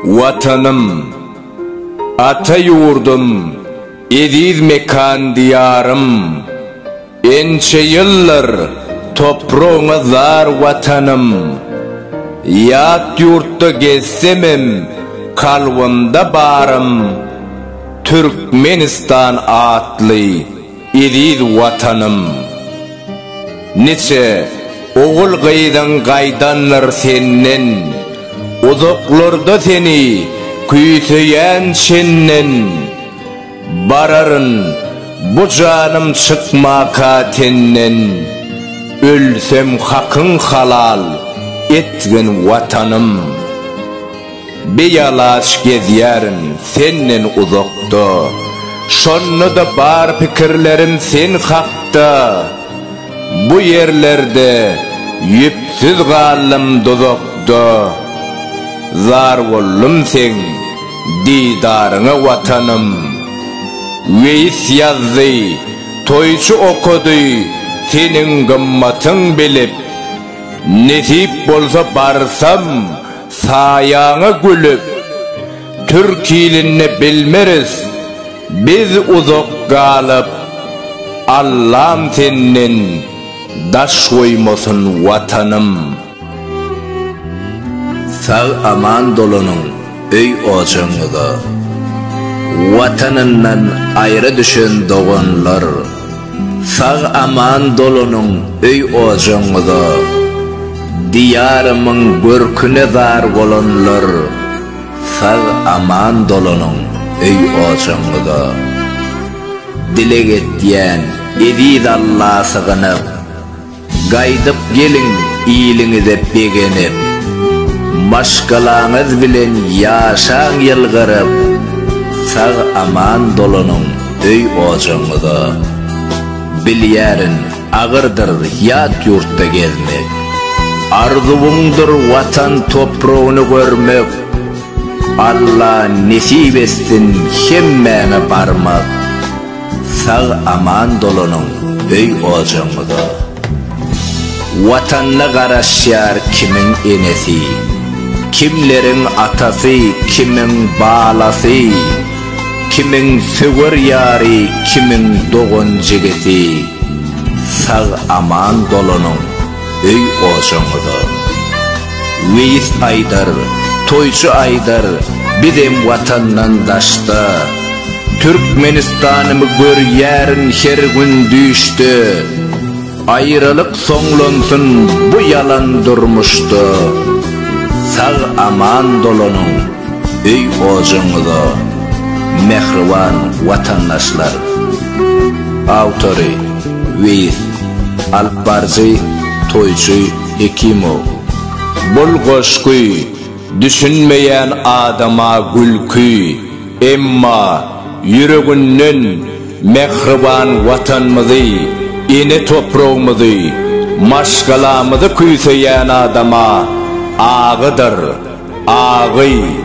Watanym, ata ýurdum, eziz mekan Diýarym! Ençe ýyldyr topragyňa zar Watanym! Ýat ýurtda gezsemem kalbymda barym Türkmenistan atly Eziz Watanym! Niçe ogul-gyzyň gaýdandyr senden, Uzaklarda seni küýseýän çenden. Bararyn bu janym çykmaka tenden, Ölsem hakyň halal etgin Watanym! Bialaç gezýärin senden uzakda, Şonda-da bar pikirlerim sen hakda. Bu ýerlerde ýüpsüz galdym duzakda, Zar boldum seň didaryňa Watanym. Weýis ýazdy, toýçy okady, Seniň gymmatyň bilip, Nesip bolsa barsam, Saýaňa gülüp, türk ilinde bilmeris, Biz uzak galyp, Allam senden daş goýmasyn Watanym. Sag aman dolanyň öý ojagyňyza. Watanyndan aýra düşen doganlar. Sag aman dolanyň öý ojagyňyza Diýarymyň görküne zar bolanlar Sag aman dolanyň öý ojagyňyza Dileg etýän eziz Alla sygynyp Gaýdyp geliň iliňize begenip, Maşgalaňyz bilen ýaşaň ýylgyryp, Sag-aman dolanyň öý-ojagyňyza. Bilýärin, agyrdyr ýat ýurtda gezmek, Arzuwyňdyr Watan topragyny görmek, Alla nesip etsin hemmäňe barmak. Sag aman dolanyň öý ojagyňyza. Watanyna garaşýar kimiň enesi, kimleriň atasy, kimiň balasy, kimiň söwer ýary, kimiň dogan-jigisi. Sag aman dolanyň. öý ojagyňyza. Weýis aýdar, toýçy aýdar, bizem watandan daşda. Türkmenistanymy görýärin her gün düýşde. Aýralyk soňlansyn bu ýalan durmuşda. Sag aman dolanyň öý ojagyňyza, mähriban watandaşlar. Awtory, Weýis. Alypbaryjy, toýçy Hekimow. Bul goşgy düşünmeýän adama gülki, emma ýüreginden mähriban Watanymyzy, ene topragymyzy, maşgalamyzy küýseýän adama agydyr, agy.